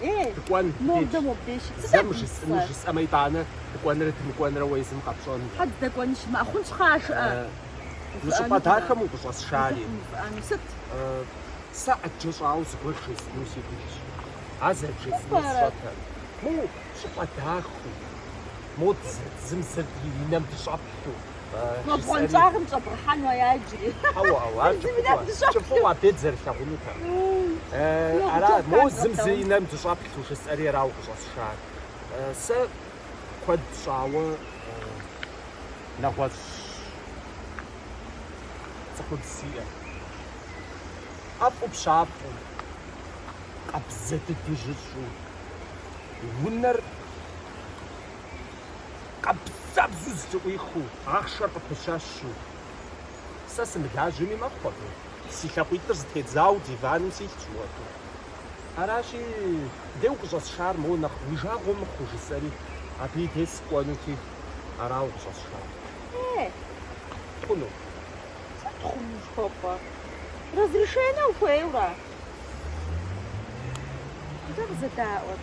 Ей, Дыкӏуэн, дедж. Мовдэ, мобдей щыт. Сыт Зэ абы жысӏэну ислъэр? жысӏэмэ итӏанэ, дыкӏуэнрэ дымыкӏуэнрэ уэ езым къэпщӏэнущ. Хьэ дыкӏуэну щымыӏэ? А хъунщ хъыа жыӏэ? Э, Мы Увыӏэну щӏыпӏэ дахэм жыӏэ. укъыщӏэсшари. Узыфӏ увыӏэну сыт? Э, Сэ ӏэджэ щӏауэ зыгуэр жесӏэну си гугъэщ. Ар зэрыбжесӏэнур Сыт пӏэрэ? сщӏэтэ. Моу, щӏыпӏэ дахэу. Моуэ, зым зыр ди нэм дыщӏэплъу. Гъуэнщӏагъым щӏэбгъэхьэну ара иджыри? Хьэуэ, хьэуэ, ар кӏыфӏыӏуэ, кӏыфӏыӏуэ абдей дызэрылъагъунухэм. Ара, моуэ зым зы и нэм дыщӏэплъу жысӏэри арауэ къыщӏэсшар. Сэ куэд щӏауэ нэгъуэщӏ цӏыхубз сиӏэщ. ӏэфӏу пщафӏэу, къабзэ дыдэу жьыщӏэу, унэр. Къэбзабзу зэлъыӏуихыу ахъшэр къыпыщэщу. Сэ сымылажьэми мэхъу абы. Си лъакъуитӏыр зытедзауэ диваным силъщ мыпхуэдэу. Аращи, деж укъыщӏэсшар моуэ нэхъ уи жагъуэ мыхъуу, жысӏэри, абы и деж сыкӏуэнути, арауэ къыщӏэсшар. Е. Хъуну. Сыт хъуну жыхуэпӏэ? Разрешение ухуейуэ ара? Къызэдаӏуэт.